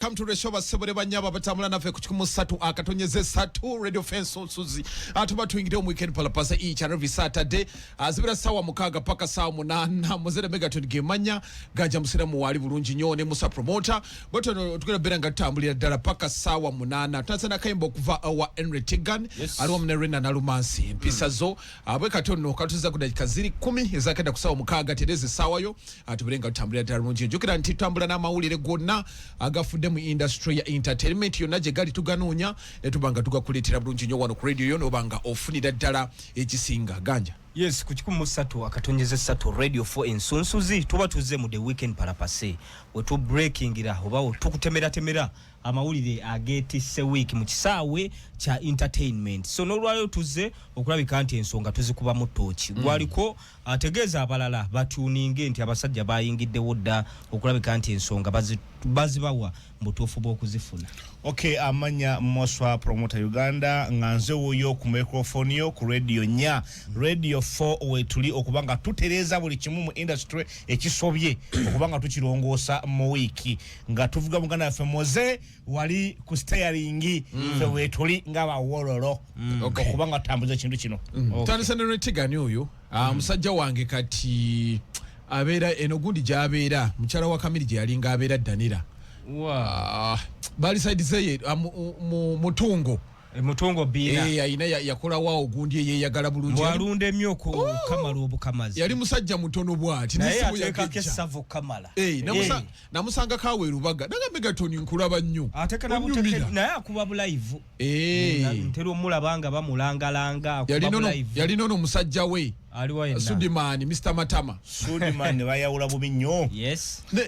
Come to the show basebole banyabo abatambula naffe ku kikumu satu akatonyeze satu radio fence onsuzi atuba tuingire mu weekend pala pasa each and every Saturday azibira sawa mukaga paka sawa munana muzere mega tuni gemanya gaja musira mu wali bulungi nyo ne musa promoter but no tukira beranga tambulira dala paka sawa munana tunasana kaimbo kuva awa Henry Tigan yes. alwa mnerina na lumansi mpisa mm. zo abwe kati ono katuza ku dakika ziri kumi ezakenda kusawa mukaaga tereza essaawa yo atubere nga tutambulira ddala lungi njukira nti tutambula n'amawulire gonna agafudde mu industry ya entertainment yonna gye gali tuganoonya ne tuba nga tugakuleetera bulungi nnyo wano ku radio yo noba nga ofunira ddala ekisinga ganja yes ku kikumi mu ssatu akatonyeza essatu radio fo ensunsuzi tuba tuzze mu the weekend parapase wetubreakingira oba tukutemeratemera amawulire agetisse wiiki mu kisaawe kya entertainment so n'olwayo tuzze okulabika nti ensonga tuzikubamu tooki mm. gwaliko ategeeza abalala batuninge nti abasajja bayingiddewo dda okulabika nti ensonga bazibawa mubutuufu bw'okuzifuna ok amanya moswa promota uganda nga nze wuyo ku microfoni yo ku radio nya radio 4 wetuli okuba nga tutereeza buli kimu mu industry ekisobye okuba nga tukirongoosa mu wiiki nga tuvuga muganda waffe moze wali ku steyaringi mm. fe wetuli nga bawololo mm. okuba nga tutambuza ekintu kino mm. tandisa ne retigani oyo ah, musajja wange kati abeera eno gundi gyabeera mukyala wa kamiri gye yalinga abeera danira ah, bali saidi zeye ah, mutungo mutungo biina eh ayina yakola wa ogundi eyeyagala bulungi walunde myo ko oh! kamala obukamazi yali musajja mutono bwati naye ateka ke savu kamala eh namusa eh. namusanga kawe rubaga nanga megatoni nkulaba nnyo ateka na muteke naye akuba bu live eh ntero mulabanga bamulangalanga akuba bu live yali nono musajja we sudimani mr matama sudimani bayawula bubi nnyo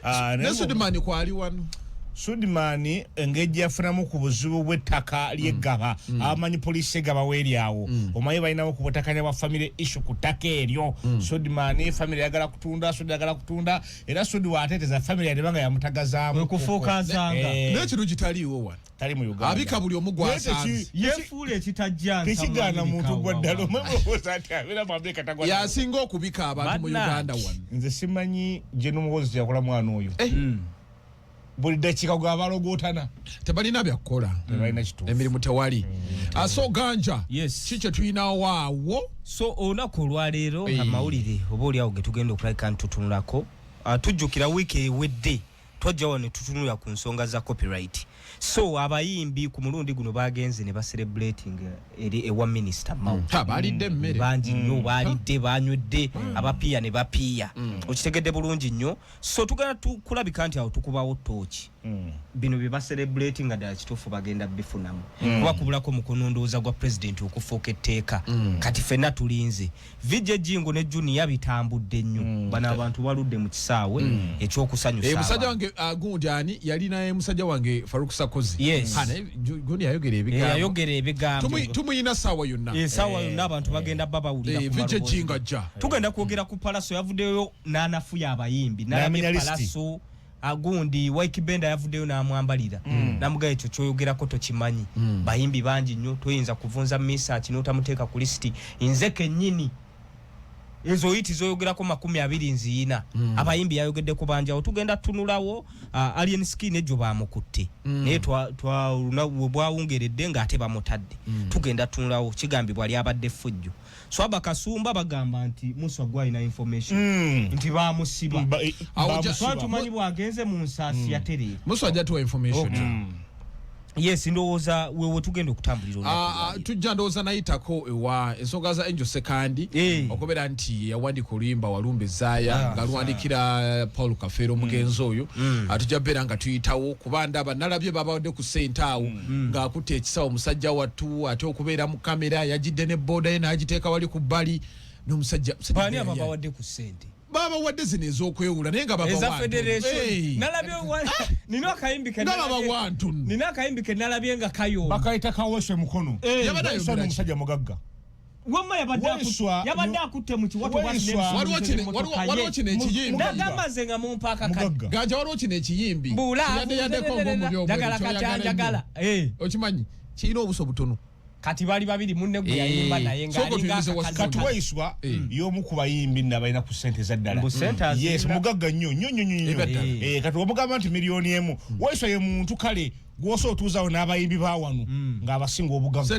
ah, ne sudimani kwali wano sudimani engeri gyeyafunamu ku buzibu bw'ettaka lyeggaba mm. mm. abamanyi poliisi egaba weeryawo mm. omanyi balinawo ku butakanya bwa famire issu ku ttaka eryo sudimani famire yagala kutunda sudi yagala kutunda era sudi waateeteza famire yadeba nga yamutagazaamu wekufuuka nsanga eh. naye kino kitaliiwo wano tali mu Uganda abika buli omu gwasanze yefuule ekitajja tekigaana muntu gwa ddala omwemuwoza ati abeera mu Amerika tagwa yasinga okubika abantu mu Uganda wano nze simanyi gye n'omuwozi kyakola mwana oyo eh. hmm. buli dakiika gwe abalogootana tebalina byakukola hmm. emirimu tewali hmm. aso ah, ganja ki kye tulinawo awo so olunaku olwaleero amawulire oba oliawo ge tugenda okulabika ntutunulako ah, tujjukira wiiki ewedde twajja wano tutunula ku nsonga za copyright so abayimbi ku mulundi guno bagenze ne bacelebrating eri ewa minister mau hmm. balidde mmere bangi nnyo hmm. balidde banywedde hmm. abapiya ne bapiya okitegedde bulungi nnyo so tugenda tukulabika nti awo tukubawo tooki bino bye bacelebrating nga ddala kituufu bagenda bifunamu kuba kubulako mukunondooza gwa president okufuuka etteeka kati fenna tulinze VJ Jingo ne Junior bitambudde nnyo. Mm. Bana abantu baludde mu kisaawe mm. ekyokusanyusa. Eh musajja wange agundi ah, ani yali naye musajja wange Faruk Sakozi. Yes. Ana Junior ayogera ebigambo. Yeah, ayogera ebigambo. Tumu tumuyina sawa yonna. Eh sawa eh. yonna abantu bagenda baba ulira eh, ku. Eh VJ Jingo ajja. Tugenda kwogera ku Palaso yavuddeyo n'anafuya abayimbi. N'amenya Palaso. agundi ah, Wyke Benda yavuddeyo n'amwambalira mm. namugamba ekyo kyoyogerako tokimanyi mm. bayimbi bangi nnyo toyinza kuvunza misaki n'otamuteeka ku lisiti nze kennyini ezo oyiti zoyogerako makumi abiri nziyina mm. abayimbi yayogeddeko banjawo tugenda tunulawo uh, ah, alien skin egyo bamukutte mm. naye twaluna bwawungeredde ng'ate bamutadde mm. tugenda tunulawo kigambibwa lyabadde fujjo Swaba kasumba bagamba nti Musa gwa ina information mm. nti ba musiba ba, e, ba musiba tumanyi bwa genze mu nsasi mm. ya tele Musa ajatu wa information okay. mm. yes ndowoza wewe tugenda okutambulira ah, ah, uh, tujja ndowoza nayitako ewa ensonga za angel sekandi hey. Eh. okubera nti yawandika oluyimba walumbe zaya ah, nga lwandikira eh, paul kafeero mm. omugenzi mm. oyo mm. atujja beera nga tuyitawo kuba ndaba nalabye babawadde ku sente awo mm. hmm. ng'akutte ekisawo musajja wattu ate okubeera mu kamera yagidde ne booda ye n'agiteeka wali ku bbali n'omusajja baani ababawadde ku ssente baba wadde zino ezokwewula naye nga babawantunina akayimbi kenalabye nga kayobakayita kaweswe mukono yabadde ayomusajja mugagga wamma yabadde akutte mu kiwatowaliwo kino ekiyimbiagamba nze nga mumpaaka ganja waliwo kino ekiyimbi buulaagala kati anjagala eh. okimanyi kirina obuso butono kati bali babiri munne gwe yayimba eh. naye ngakati waiswa eh. yomu ku bayimbi nabalina ku sente zaddala yes mugagga nnyo nnyo nnyo nnyo kati wamugamba nti miliyoni emu hmm. waiswa ye muntu kale gwosa otuuzawo n'abayimbi bawano hmm. ng'abasinga obugaga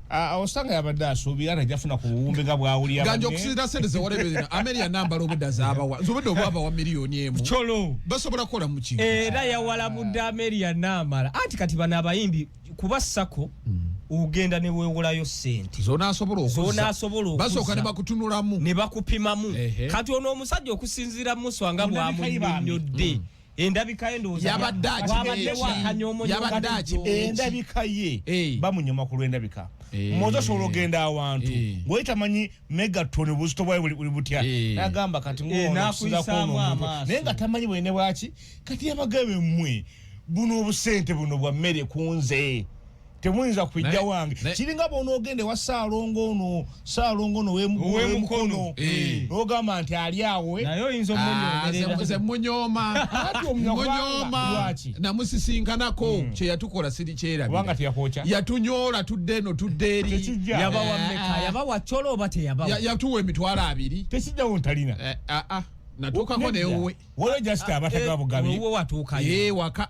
osanga yabadde asuubira nti ajafuna ku buwumbi nga bwawulira ganja okusinzira sente zewareberera ameri yanambala obudde azabawa nze obudde obwava wa miliyoni emu colo basobola kukola muki era yawalabudde ameri yanambala anti kati bano abayimbi kuba sako hmm. ogenda ne wewolayo sente zona asobola okuza zona asobola okuza basoka ne bakutunulamu ne bakupimamu kati ono omusajja okusinzira muswa nga bwa munyodde mm. endabika ye ndowooza yabadde akibadde endabika ye bamunyoma ku lw'endabika moza osobola ogenda awantu ngoli tamanyi megaton obuzito bwayo buli butya nagamba kati naye nga tamanyi bwene bwaki kati yabagabe mmwe buno obusente buno bwa mmere ku nze temuyinza kujja wange kiringa bwonoogenda ewa saalongo ono saalongo ono wemukono eh. nogamba nti ali awe nayeoyinzaomunyoomaaati ah, namusisinkanako hmm. kyeyatukola siri kyerabira yatunyoola tudde eno tudde eri eh, yatuwa emitwalo abiri tekijjawo ntalina eh, ah, ah. natukako newe waliwo just abatagabugabi watuukayo waka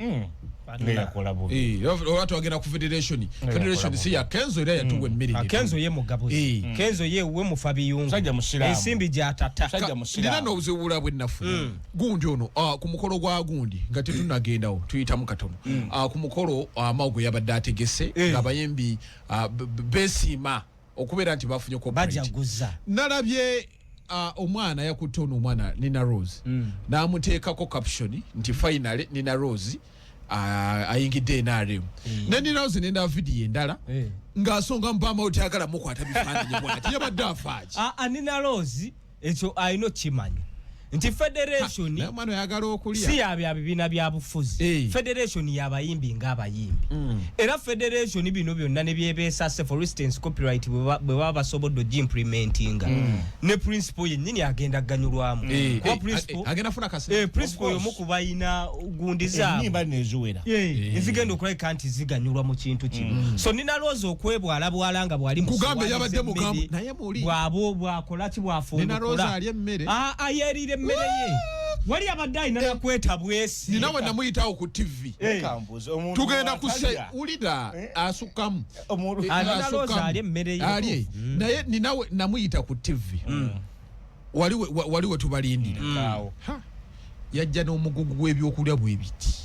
mm. eh, oba twagenda ku federation federation si ya kenzo era yatuwa mm. emmere ah, kenzo ye mugabuzi eh. mm. kenzo ye we mufa biyungu ensimbi gyatata nina n'obuzibu bula bwe nnafu mm. gundi ono ah, ku mukolo gwa gundi nga tetunagendawo tuyitamu katono ah, ku mukolo amawgo yabadde ategese eh. ng'abayimbi besiima okubeera nti bafunye bajaguza nalabye uh, omwana yakutte ono omwana nina rose mm. namuteekako caption nti finally nina rose uh, ayingidde nrm mm. ne nina rose nenda vidiyo endala mm. ng'asonga mubamawo tyagala mukwata bifaananyi bwati yabadde afaaki uh, ah, uh, ah, nina rose ekyo alina okukimanya nti federation si yabya bibiina bya bufuzi hey. federation yabayimbi ngaabayimbi mm. era federation bino byonna nebyebeesase for instance copyright bwe baba basobodde ogimplementinga mm. ne principal yennyini agenda kuganyulwamu hey. kuba principal yomu ku balina gundi zaabuziwera hey. ezigenda okulabika nti ziganyulwa mu kintu kino mm. so ninalooza okwebwalabwala nga bwali mukugambe yabadde mugambo bwabwo bwakola ki bwafuuayeerire ah, ah, emmere ye wali abadde alina eh. nakweta bwesi nina we namuyitawo ku tv eh. tugenda kuwulira eh. asukkamu ali emmere ye mm. naye ninawe namuyita ku tv mm. wali wetubalindira mm. yajja n'omugugu gw'ebyokulya bwe biti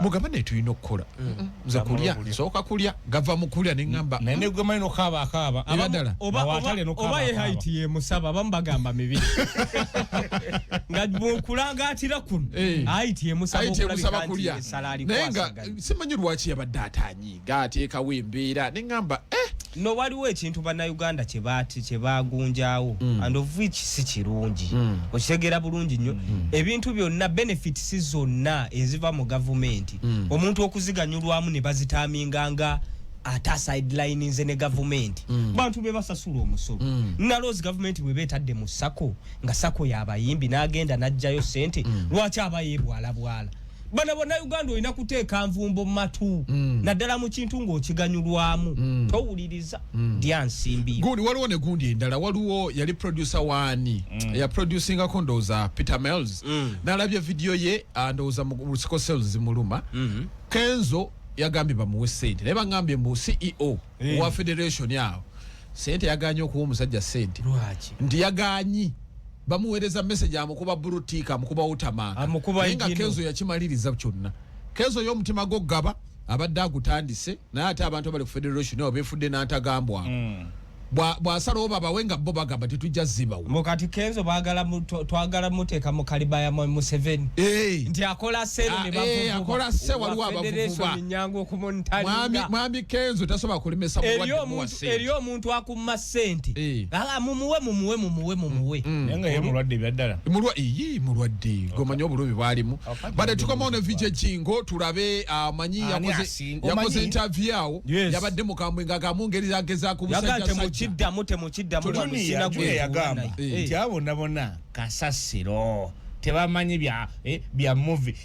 mugamba naye tulina okukola mm. nze kulya nsooka kulya gava mu kulya ne ŋŋamba naye ne gwemanyi nokaaba akaaba era ddala oba ye haiti ye musaba abamu bagamba mibi nga bw'okulangaatira kuno eh. haiti ye musaba okulabika nti esala alikwasa naye nga simanyi lwaki yabadde ataanyi gaateekawo embeera ne ŋŋamba eh! no waliwo ekintu bannayuganda kye baagunjaawo mm. and of which si kirungi mm. okitegeera bulungi nnyo mm. ebintu byonna benefits zonna eziva mu gavumenti mm. omuntu okuziganyulwamu ne bazitaaminga nga ata sideline nze ne gavumenti mm. bantu be basasula omusolo mm. naloozi gavumenti bwe beetadde mu sako nga sako yabayimbi n'agenda n'ajjayo sente mm. lwaki abayeebwalabwala bana banauganda olina kuteeka nvumbo matu mm. naddala mu kintu ng'okiganyulwamu mm. towuliriza mm. dya nsimbi gundi waliwo ne gundi endala waliwo yali producer waani mm. yaproducingako ndowooza peter mels mm. nalabye vidiyo ye ah, ndowooza musiko sales zimuluma mm -hmm. kenzo yagambye bamuwe sente naye bagambye mbu ceo mm. wa federation awo sente yaganye okuwa omusajja sente nti yaganyi bamuwereza message amukuba buru tika amukuba utamaka amukuba inga kenzo yakimaliriza kyonna kenzo yo omutima gwo gaba abadde agutandise naye ate abantu abali ku federation nabo befudde n'antagambwa mm. bwasalawo babawe nga bo bagamba tetujja zibawo mukati kenzo twagala muteeka mu kaliba ya museveni nti akola seakola ah, se waliwo abavuvuba mwami kenzo tasobola kulemesa muwadde muwase muma sente eh. ah, mumuwe mumuwe mumuwe mumuwe mm, mm. nenga ye mulwadde byaddala mulwa iyi mulwadde gomanyo obulubi bwalimu oh, bade tukoma ono vije kingo tulabe ah, manyi ah, yakoze yakoze interview awo yabadde mukambwe nga kamungeri zageza ku musajja yagate mukidda mute mukidda mu sina gwe yagamba eh. tyabo nabona kasasiro tebamanyi bya eh, bya movie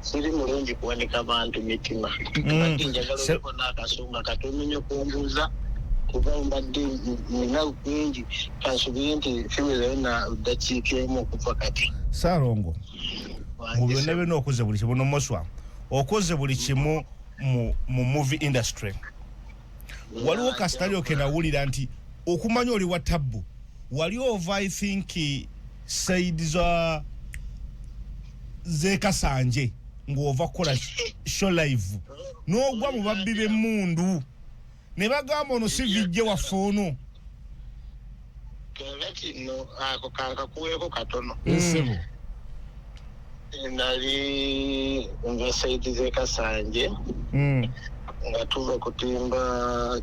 siri mulungi kuwanika bantu mitima mm. njagalaleko n'akasonga katomenye kumbuuza kuba mbadde nina kungi kansubire nti fiwerayo na ddakiika emu okuva kati saalongo mu byonna byonna okoze buli kimu nomoswa okoze buli kimu mu movie industry waliwo kasitalyo kenawulira nti okumanya oli wa tabbu wali ova i think said za zekasanje ng'ova kukola show live n'ogwa mu babbi b'emmundu ne bagamba ono si vijje waffe ono kyenga kino ako kankakuweeko katono esebo nali nva saidi zekasanje mm. nga tuva kutimba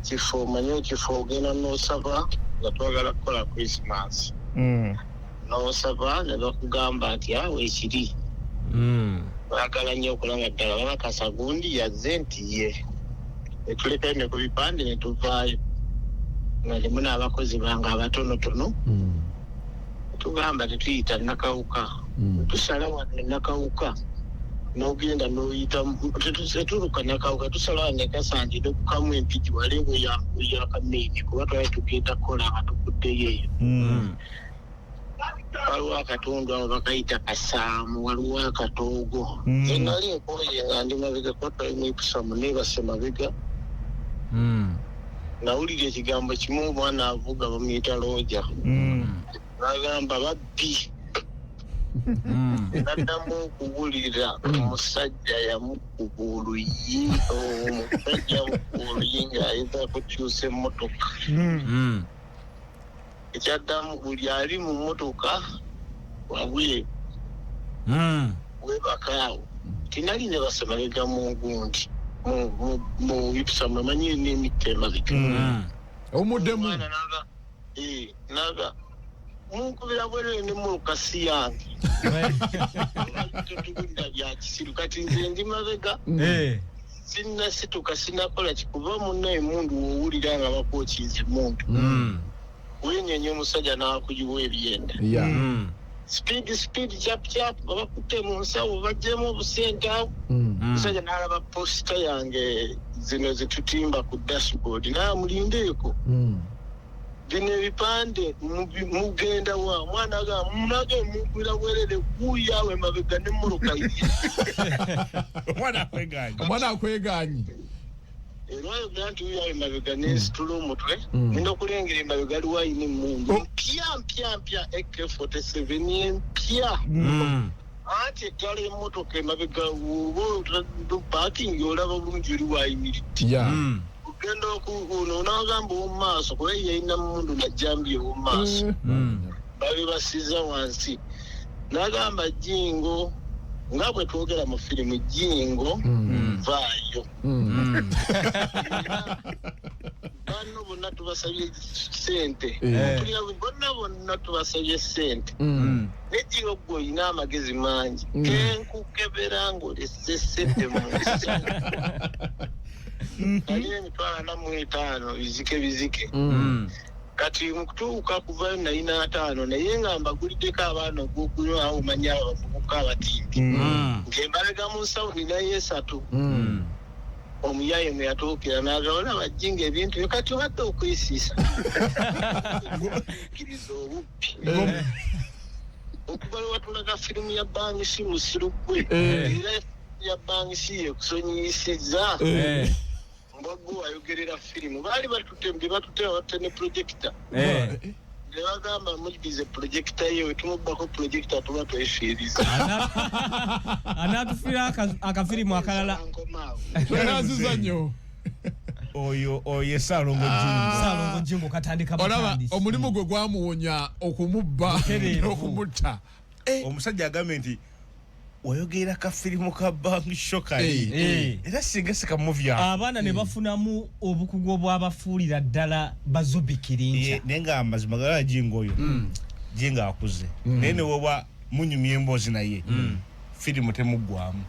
kifo manyi ekifo ogenda nosaba nga twagala kukola christmas mm. n'osaba ne bakugamba nti awo ekiri hmm. baagala nnyo okulaba ddala bakakasa gundi yazze nti ye ne tulekayo ne ku bipande ne tuvaayo nga limu n'abakozi bange abatonotono hmm. tugamba tetuyita nakawuka hmm. tusala wano enakawuka n'ogenda n'oyitamu tetuluka nakawuka tusala wano ekasanti nokukamu empiki wale weyakameini kuba twali tugenda kukola nga tukuddeyo eyo waliwo akatundu abo bakayita kasaamu waliwo akatoogo Mm. enali enkoye nga ndi mabega kotoimipisamu nebase mabega Mm. nawulira ekigambo kimu omwana avuga bamuyita looja Mm. bagamba babbi Mm. naddamu okuwulira omusajja yamukuba oluyi omusajja yamukuba oluyi ng'ayinza kukyusa emmotoka Mm. Mm. ekyaddamu buli ali mu mmotoka wabweru hmm. webakaawo tinali ne basemabega mu gundi mu ipusa mwemanyi n'emitta emabega hmm. omuddemu naga munkubira bwerere ne mulukasi yange totukulira byakisiru kati nze ndi mabega hmm. eh. sinnasituka sinnakola ki kuba munna emundu wowulira nga bakwokinza emundu mm. wenyenya omusajja n'akuyiwa ebyenda mm. sipiidi sipiidi kyapukyapu nga bakutte mu nsawo bajjemu obusente awo mm. omusajja n'alaba posita yange zino zetutimba ku dashboard naye amulindeeko bino ebipande mugenda wa omwana aga munage mugwira bwerere guyawe mabega ne muruka omwana akweganye omwana akweganye era oyogera nti uyawe mabega ne hmm. situla omutwe hmm. nina okulengera emabega aliwo ayina emundu oh. mpya mpya mpya ak 47 empya hmm. anti eddala emotoka emabega oba bakingi olaba bulungi oli wayimiridde ogenda okuuno onagamba owomumaaso kuba yalina mundu najambi owomumaaso eh. hmm. babe basiza wansi nagamba jingo nga bwe twogera mu firimu jingo hmm. vaayo hmm. banno bonna tubasabye sente eh. bonna bonna tubasabye sente Nedio gwe olina amagezi mangi mm. kenkukebera ng'olese sente mu nsi mm-hmm. naye emitwalo ana mu etaano bizike bizike mm. kati mukutuuka kuvayo nalina ataano naye nga mbaguliddeko abaana ogwokunywa awo omanya abavubuka abatimbi mm. ng'embalaga mu nsawo ninayo esatu omuyaye mwe yatuukira nagawona bajjinga ebintu byo kati obadde okwesiisa kiriza obubi okuva lwe watulaga firimu ya bangisi musiru gwe Eh. era firimu ya bangisi yekusonyiyisizza Eh. mbaggu ayogerera firimu baali batute mbi batute abatte ne projekita Eh. ne bagamba mudize projekita ye wetumubbako projekita tuba twefiiriza Ana- anaatufiira aka- akafirimu akalala Nkomaawo. Yali aziza nnyo. oyo oyo salongo ah. jingo salongo jingo katandika batandisi olaba omulimu gwe gwamuwonya okumubba okumutta eh. omusajja agambe nti wayogera ka filimu ka bank shoka hey, eh, eh. hey. era singa sika movie abana hey. ne bafunamu obukugu obwabafuulira ddala bazubikirinja yeah, nenga amazima gara jingo oyo mm. jinga akuze mm. nene woba munyumya emboozi naye mm. firimu temuggwamu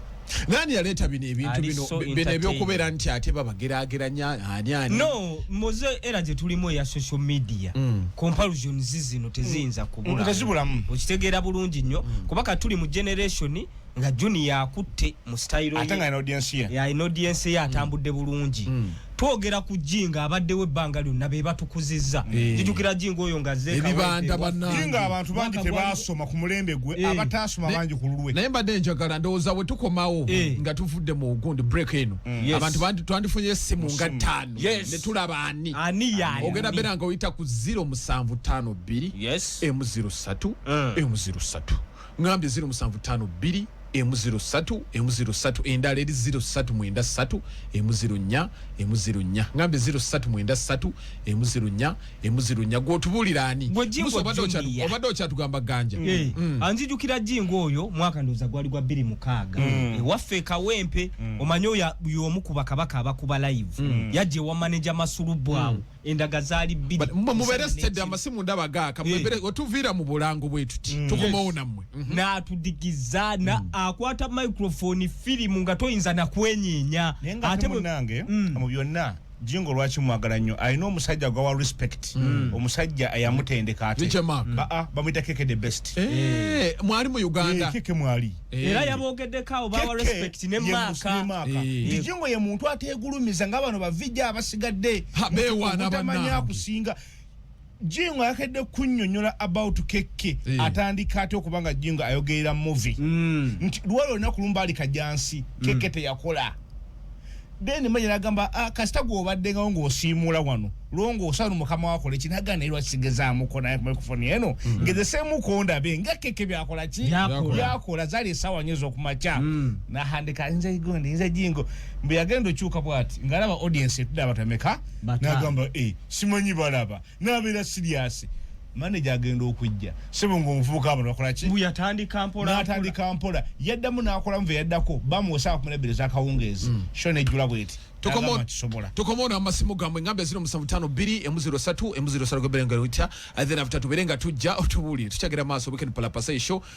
nani yaleeta bino ebintu bino bino ebyokubeera nti ate babagerageranya ani ani no moze era gye tulimu eya social media mm. comparisons zino teziyinza mm. kubula mm, tezibulamu okitegeera bulungi nnyo mm. kuba ka tuli mu generation nga junior akutte mu style ye ate nga ina audience ye ya ina audience ye atambudde mm. bulungi mm. twogera ku jinga abaddewo ebbanga lyonna be batukuzizza eh. jijukira jinga oyo nga zeebibandabanainga abantu bangi tebaasoma ku mulembe gwe eh. abataasoma bangi ku lulwe naye mbadde njagala ndowooza bwe tukomawo eh. nga tuvudde mu gundi break eno mm. abantu twandifunye essimu nga ttaano ne tulaba ani ogenda beera nga oyita ku ziro musanvu ttaano bbiri emu ziro ssatu emu ziro ssatu ngambye ziro musanvu tano bbiri emu ziro satu emu ziro satu endala eri ziro satu mwenda satu emu ziro nya emu ziro nya ngambye ziro satu mwenda satu emu ziro nya emu ziro nya gwotubulira ani obadde okyatugamba ganja eh, mm. mm. anzijukira jingo oyo mwaka ndoza gwali gwa biri mukaga mm. eh, waffe kawempe omanyo ya yomu kubakabaka abakuba live yaje wa manager masulu bwawo endaga zali bbiri mubere steady amasimu ndaba gaaka eh. mubere otuviira mu bulango bwetuti mm. tukomawo namwe mhm. natudigiza na mm. akwata microphone filimu nga toyinza nakwenyenya ate munange mm. mu byonna jingo lwaki mwagala nnyo alina omusajja gwawa respect mm. omusajja ayamutendeka ate bamwita keke the best eh, mwali mu uganda eh, keke mwali Eh. era yabogeddeko abo bawa respect ne maaka kijingo eh. ye muntu ategulumiza nga bano bavijja abasigadde bewanabamanya kusinga jingo ayakedde kunyonyola about keke eh. atandika ate okuba nga jingo ayogerera muvi mm. nti lwali olina kulumba ali kajansi keke mm. teyakola then manya nagamba ah, kasita gwobaddengawo ngaosiimuula wano lwongoosanu mukama wakola eki nagana naye lwakisigezaamuko naye microfoni eno mm. ngeze semuko ndabe nga keke byakola ki byakola zali esawa nyo ezokumakya mm. nahandika nze igonde nze jingo mbu yagenda okyuka bwati ngalaba audience etuda abatameka nagamba e eh, simanyi balaba nabeera siriasi manager agenda okujja sebo ngo muvubuka abantu bakola ki bu yatandika mpola na atandika mpola yadda mu nakola mve yadda ko ba mu osa kumule bile zaka ungezi mm. shone jula bweti tukomo tukomo na masimu gamwe ngambe zino musamu tano bili emuziro satu emuziro satu kwa belenga rutia and then after tubelenga tujja otubuli tuchagera maso weekend pala pasai show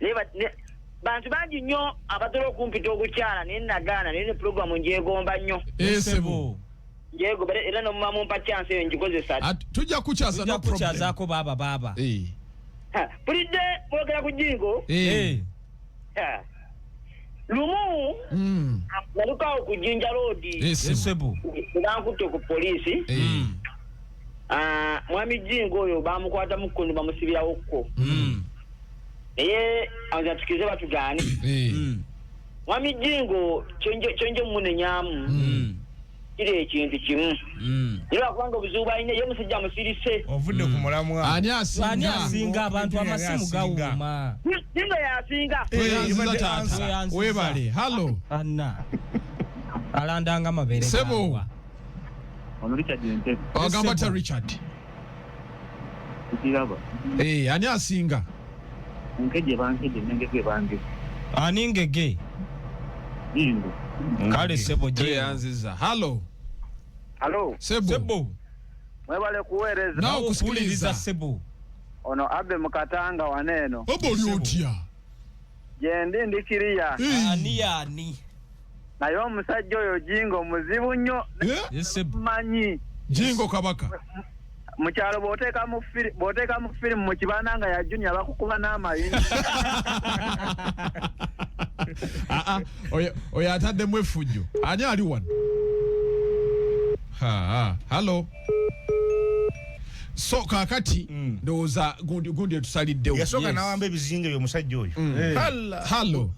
naye ba- ne- bantu bangi nnyo abatera okumpita ogukyala naye nagaana naye ne pulogulamu njegomba nnyo Eh, sebo. njegomba era- era nomuba mumpa kyansi eyo ngikozesa At- tujja kukyaza no tujja problem. kukyazaako baaba baaba Eh, Ha, bulidde mwogera ku jingo eh. Eh, Ha. lumu Mm. nalukawo ku jinja loodi Eh, sebo. esebo bankutte ku poliisi Eh. Mm. Ah, mwami jingo oyo bamukwata mukkundu bamusibirawo kko mm. naye azatukize batugaane eh. mm. mwami jingo kyonje mumunenyamu mm. kiri ekintu kimu naye lwakubanga obuzibu balina ye musajja musirise ovudde ku mulamwa ani asinga abantu amasimu gawuma jingo yasinga webale hallo anna alandanga mabere sebo Ono Richard Ntebe. Agamba ta Richard. Kiraba. Eh, ani asinga? Nkeje bankeje nengeze bange. Ani ngege? Yingo. Kale sebo je yanziza. Hello. Hello. Sebo. Sebo. Mwebale kuwereza. Na okusikiliza sebo. Ono abe mukatanga waneno. Obo lyotya. Jendi ndikiriya. Ani yani. naye omusajja oyo jingo muzibu nnyo manyi jingo kabaka mu kyalo bw'oteeka mu firi bw'oteeka mu firimu mu kibanda nga ya junior bakukuba n'amayinja ah, ah, oyo ataddemu effujjo ani ali wano hallo so kakati mm. ndowooza gundi etusaliddewo yasooka nawamba ebizinga ebyo omusajja oyo mm. eh. hallo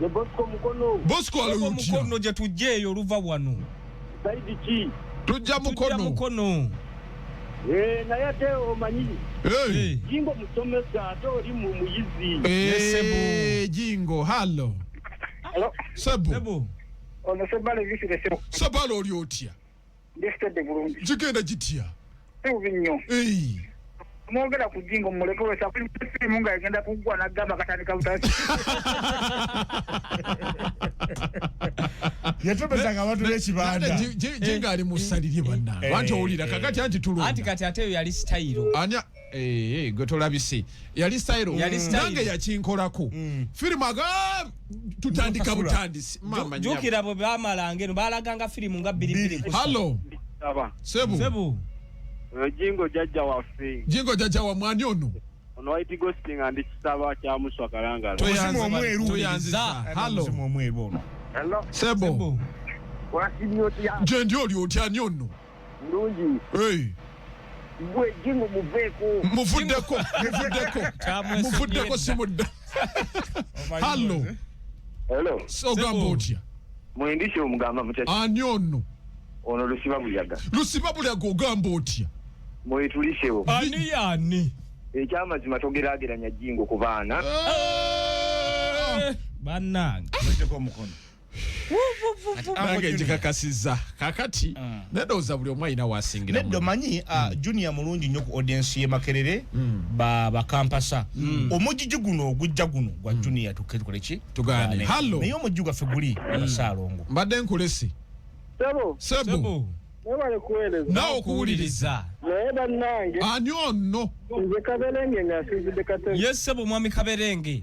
Ye Bosco Mukono. Bosco ali Bosco utya? Mukono gye tujja eyo oluva wano. Saidi ki? Tujja Mukono. Tujja Mukono. Eh, naye ate omanyi hey. jingo musomesa ate oli mu muyizi hey, jingo hallo Hello. Sebo. Sebo. Ono sebale visire sebo. Sebale oli otya? ndisitedde bulungi kigenda kitya sibubi nnyo mwogera ku jingo muleke wesafirimu nga egenda kuggwa nagamba katandika butasi yatobezanga abantu bekibandainga ali musalirye banange anti owulira kakati anti tulonda anti kati ate eyo yali sitayiro Eee gwe tolabisi yali style nange yakinkolako mm. firimu aga tutandika butandisi jukira bwe bamalanga eno balaganga firimu nga bbiribiri hallo sebu eh, jingo jajja waffe jingo jajja wa mwani ono ono waiti gosting andi kisaba kya muswa kalangala tuyanziza omweru tuyanziza hallo omweru ono sebo wasimyo tya jendi oli otya nyono Ndungi. Hey. Gwe jingo muveeko. Muvuddeko, muvuddeko. Muvuddeko simudda. Oh Hello. Hello. So gambo otya? Mwendisho mugamba mutya? Ani ono? Ono lusiba buyaga. Lusiba buyaga ogamba otya? Mwetulishewo. Ani yani? Ekyamazima togerageranya jingo ku baana. Eh! Banange. Mweteko omukono. nange njikakasiza kakati ah. nedowooza buli omu alina wasingira neddo manyi ah, hmm. junior mulungi nnyo ku audiensi ye makerere hmm. bakampasa hmm. omujiji guno ogujja guno gwa junior tukoleki tugane hallo naye omujiji gwaffe guli abasaalongo mbadde nkulesi sebo sebo mwebale kuweereza nawe okuwuliriza naye bannange ani onno nze kaberenge nga asiizidde katebe ye sebo mwami kaberenge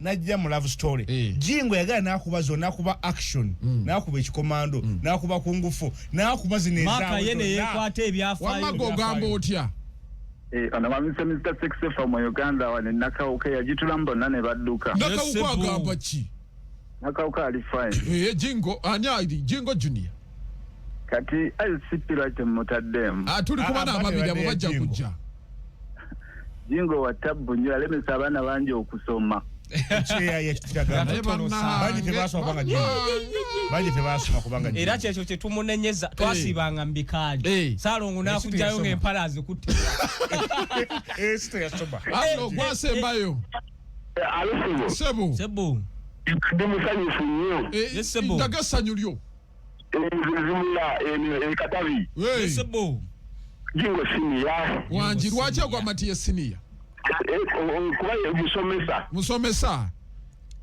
najja mu love story eh. jingo yagala nakuba zo nakuba action mm. nakuba ekikomando mm. nakuba kungufu nakuba zinezamaka yene yekwata ebyafayoamaga ogamba otya eh, ono bamise mr sexefa mu uganda wane nakawuka yagitulamu bonna ne badduka nakawuka agamba ki nakawuka ali fine eh, jingo ani ali jingo junior kati icp lwaki mumutaddemu ah, tuli kuba ah, ah, nababiri abo bajja kujja jingo wa tabbu nnyo yalemesa abaana bangi okusoma era kyekyo kyetumunenyeza twasibanga mubikaali salongo nakujayo ngaempala azikutte gwasembayo sebo ndi musanyufu nnyo ndaga essanyu lyo Zimula eno e Katabi. Hey. Sebo. Jingo senior. Wanji lwaje kwa matiye senior. Eh, kuba ye musomesa. Musomesa.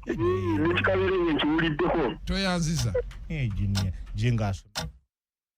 Nekikabere nkiwuliddeko. Tweyanziza. Eh, junior. Jingo aso.